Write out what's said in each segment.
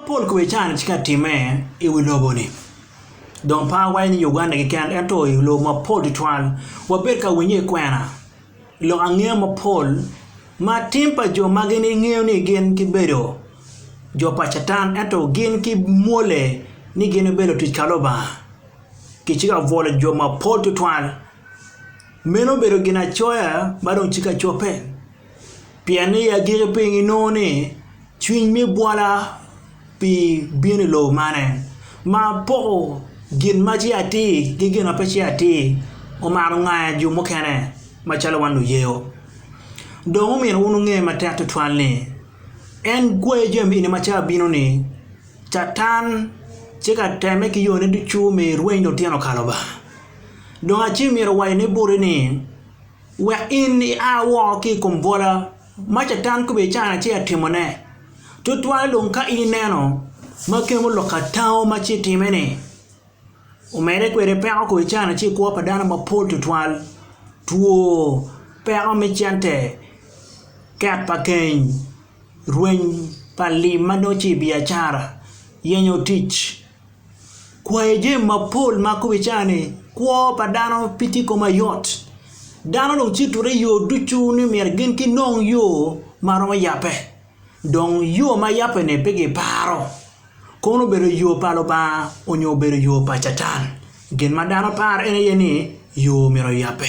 Pol kome can ci ka timme i wi lobo-ni. Dong pe awaco ni Uganda keken ento i lobo mapol tutwal wabedo ka winyo i kwena lok angeya mapol ma tim pa jo ma gin ingeyo ni gin gibedo jo pa Catan ento gin kimwole ni gin gibedo lutic ka Lubanga. Kiciko ka bwolo jo mapol tutwal. Meno obedo ginacoya ma dong tye ka cobbe. Pien ni i agikki piny ginongo ni cwiny me bwola pi bino i lobo mane, ma poko gin ma ce atir ki gin ma pe ce atir omaro ngaya jo mukene macalo wan luyeyo. Dong omyero wun wunge matek twatwal ni en gweyo jami eni ma cawa bino-ni Catan tye ka temme ki yone ducu me rweny lutino ka Lubanga. Dong acel myero owaci ni boti ni Wek in ia woko ki i kom bwola ma Catan kobedi cana ci atimone, tutwal dong ka ineno ma kemo lok ka tango ma ci itime-ni. Omedde kwede, peko kodi cana ci i kwo pa dano mapol tutwal, two, peko me cente, ket pa keny, rweny pa lim ma nongo ci i biacara, yenyo tic. kwayo jami mapol ma kong ibicayo ni kwo pa dano pe tye kong mayot dano dong citute i yo ducu ni myero gin ginong yo ma romo yabbe dong yo ma yabbe-ni pe giparo kono obedo yo pa Lubanga nyo obedo yo pa Catan gin ma dano paro en aye ni yo myero oyabbe.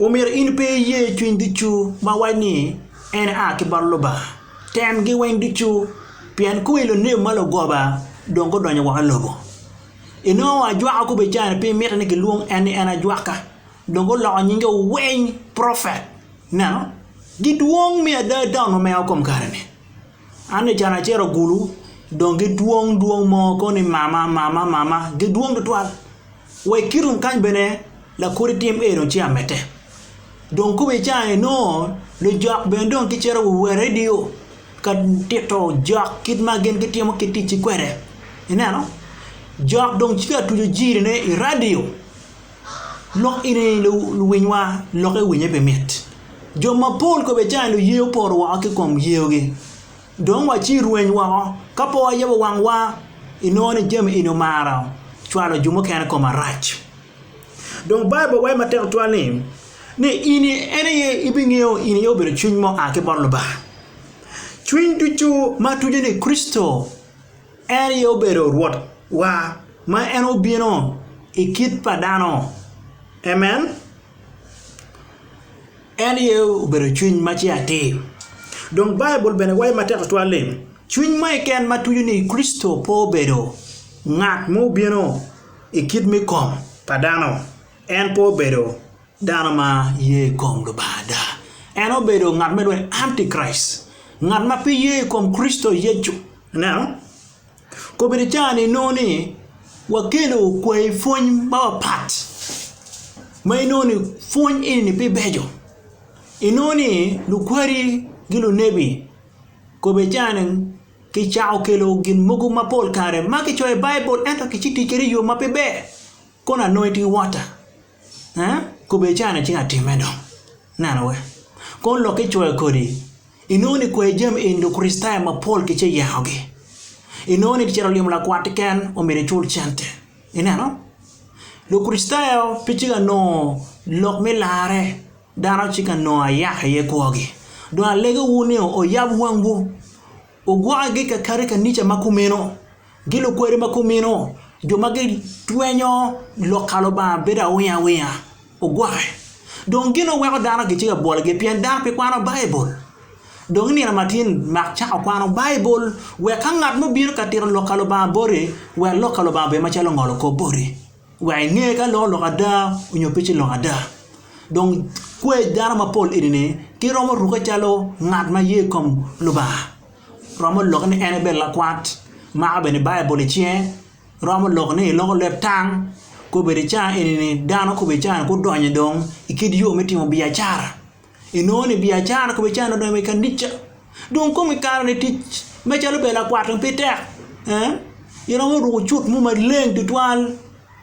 Omyero in pe iye cwiny ducu ma waco ni, 'En aa ki bot Lubanga. Temgi weng ducu, pien kong i lunebi ma lugoba dong gudonyo woko i lobo. Inongo ajwaka kobbe ca-ni pi miti ni kilwong en ni en ajwaka, dong guloko nyinge weng profet. Ineno? Gidwong me ada ata onumeo kom kare-ni. An i can acel ogulu dong gidwong dwong mo kono ni mama mama mama gidwong tutwal wa i kitum kany bene lakodi tim ee dong ci amedde dong kome i ca ni nongo lujok bene dong gicito wa wa redio ka tito jok kit ma gin gitimo ki ticci kwede ineno jok dong ci ka tuco jiri ne i radio. Lok eni luwinywa, lokke winye pe mit. Jo mapol kobedi cani luye opoto woko ki kom yeogi, dong wa ci rweny woko. Ka pe wayabo wangwa, inongo ni jami eni omaro cwalo jo mukene i kom arac. Dong Baibul waco matek tutwal ni, ni in en aye ibingeyo in aye obedo cwiny ma oa ki bot Lubanga, cwiny ducu ma tujone Kricito. En aye obedo Rwotwa ma en obino i kit pa dano. Amen. En aye obedo Cwiny ma ce atir. Dong Baibul bene waco matek tutwal ni, Cwiny mo keken ma tuco ni Kricito pe obedo ngat ma obino i kit me kom pa dano, en pe obedo. Dano ma ye i kom Lubanga ada, en obedo ngat me lweny, anti-Kraicit, ngat ma pe ye i kom Kricito Yecu. Ineno? Kobedi caa-ni inongo ni wakelo kwayi pwony mapapat ma inongo ni pwony eni-ni pe beco. Inongo ni lukweri ki lunebi kobedi caa-ni kicako kelo gin mogo mapol kare ma kicoyo i Baibul ento kici tic kwede i yo ma pe ber. Kono anongo itye wota. Ee, kobbe icano ci atimme dong. Neno we. Kono lokke icoyo kodi, inongo ni kwer jami eni Lukricitayo mapol ki ce yengogi. Inongo ni cito limo lakwat keken omyero icul cente. Ineno? Lukricitayo pe ci ka nongo lok me larre, dano ci ka nongo ayaka iye kwogi. Dong alegewu ni oyab wangwu, wugwokagi kakare i kanica ma kumeno. Gi lukwade ma kumino, jo ma gitwenyo lok ka Lubanga bedo awingo awinga, ogwoke. Dong gin ma weko dano gitye ka bwologi pien dano pe kwano Baibul. Dong i nino matin mak cako kwano Baibul wek ka ngat mo obino ka tito lok ka Lubanga boti, wek lok ka Lubanga obed macalo ngolo kop boti, wek inge ka lok oloko ada nyo pe ci loko ada. Dong kwed dano mapol enini giromo ruke calo ngat ma ye i kom Lubanga. Romo lok ni en ebed lakwat, mako bene Baibul i cinge. Romo lok ni eloko leb tang. Kobedo i cawa eni-ni dano kobedo i cawa-ni gudonyo dong i kit yo me timo biacara. Inongo ni biacara kobedo i cawa-ni odonyo wa i kanica. Dong kong ikaro ni tic macalo bedo lakwat dong pe tek. Iromo ruko cut mo maleng tutwal.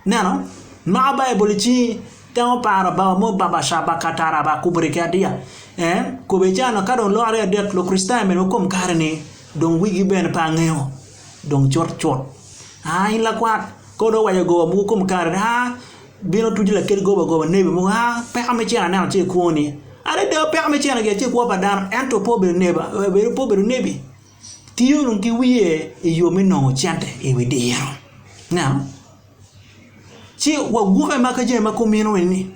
Neno, mako Baibul i cingi. Temo paro Baba mo, Baba Shaba Kata Raba Kubri ki Adiya. En, kube ca no, ka dong lworo aryo adek Lukricitayo mene wakom kare-ni, dong wigi bene pe angeyo. Dong cut cut. Aa, in lakwat, ka odong owaco goba mogo kom kare-ni, aa, bino tuco lakit goba goba, nebi mogo, aa, peko me cen aneno ce i kwoni. Adada, peko me cen-ni gi aye ce kwo pa dano, ento pe obedo neba, pe obedo nebi. tiyo dong ki wiye i yo me nongo cente i wi diro. Ineno? Ci wagwokke ma ka jami ma kumino eni,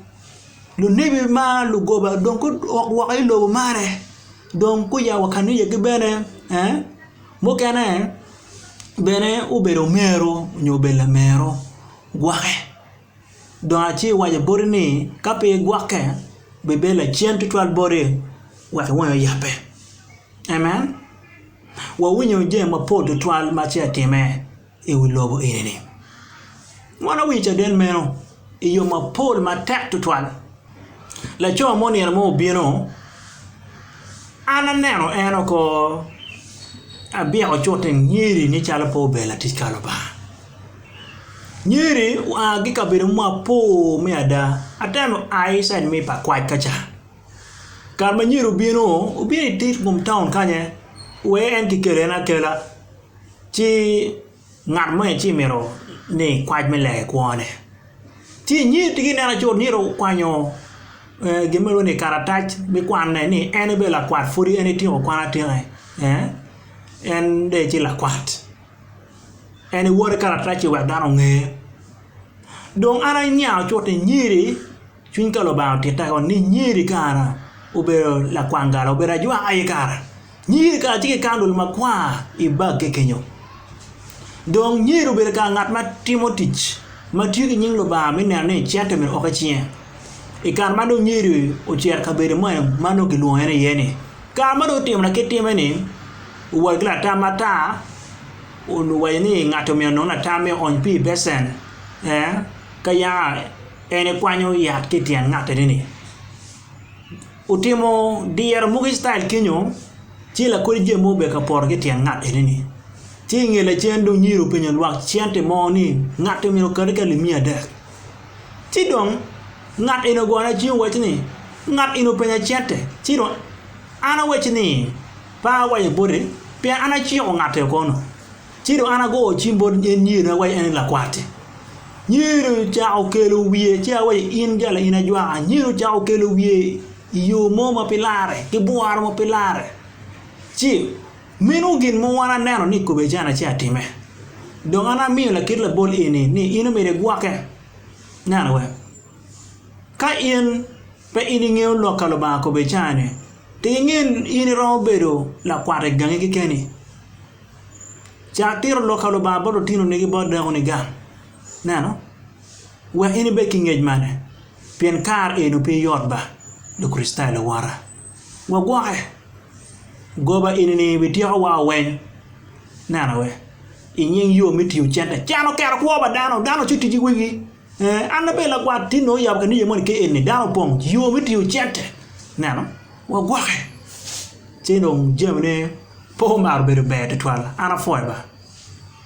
lunebi ma lugoba dong guok woko i lobo marre, dong guya wa kaniyegi bene, ee, mukene bene obedo omero nyo obedo lamero gwokke. Dong aci iwaco boti ni ka pe igwokke bibedo lacen tutwal boti wek iwonyo yabbe. Amen. Wawinyo jami mapol tutwal ma ce atime i wi lobo eni-ni. Mon awinyo caden meno i yo mapol matek tutwal. Laco mo nino mo obino, an aneno en oko abyeko cute ngiri ni calo pe obedo latic ka Lubanga. Ngiri oa ki i kabedo mapol me ada, atemo a i cit me pa kwac ka ca. Kare ma nyedo obino, obino i tit kom taun kany-nyen wee en ki kele en akela ci ngat mo ci mito ni kwac me lenge kwone ci nyer tye ka nen acut nyer okwanyo gin ma lwongo ni karatac me kwanne ni en bene lakwat pud en etyeko kwan atika en dong ecit lakwat en ewoto ki karatac-ci wek dano onge dong an aniang acut ni nyer-ri Cwiny ka Lubanga otitta kong ni nyeri i kara obedo lakwang gala obedo ajwak aye kara nyeri kara tye ki kandul makwar i bagge kenyo dong nyeri obedo kara ngat ma timo tic ma tiyo ki nying Lubanga me neno ni cente obedo woko i cinge i kare ma dong nyeri ocito i kabedo moni ma nongo kilwongo en iye ni kare ma dong otimo lakit time ni owot ki latam matar owaco ni ngati omyero onong latam me ony pi i becen ee ka yaka En ekwanyo yat ki i tyen ngat-teni ni, Otimo dyere mogo Icrael kenyo, ci lakodi jami mogo obedo ka poto ki i tyen ngat eni-ni. Ci i nge lacen dong Yiro openyo lwak cente mo ni, Ngat-ti omyero okati ka limiya adek? Ci dong ngat eni ogoyo ne cwiny owaco ni, 'Ngat eni openya cente, ci dong an awacci ni, 'Pe awaco boti, pien an aciko ngat-ti oko-nu. Ci dong an agoyo cim bot nyerina awaco, 'En lakwatti. Nyer ocako kelo wiye, ci awaco, 'In jalo in ajwaka. Nyer ocako kelo wiye i yo mo ma pe larre, ki bworo ma pe larre. Ci, meno gin mogo an aneno ni kikobbe can acel atime. Dong an amiyo lakit labol eni ni in omyero igwokke. Neno we. Ka in pe in ingeyo lok ka Lubanga kobbe can-ni, tek inge in iromo bedo lakwat i gangi kekeni. Cak tito Lok pa Lubanga bot lutino nigi bot dako ni gang. Neno, wek in ibed ki ngec mane? Pien kare eno pe yot ba, Lukricitayo luwota. Wagwoke. Goba eni ni bityeko wa oweny. Neno we. Inying yo me tiyo cente. Can oketo kwo pa dano. Dano oco tic ki wigi. Ee, an abedo lagwar. Tin nongo oyabo kanija moni ki eni, dano opong yo me tingo cente. Ineno? Wagwoke. Ci dong jamine pe omaro bedo ber tutwal. An apwoyo ba.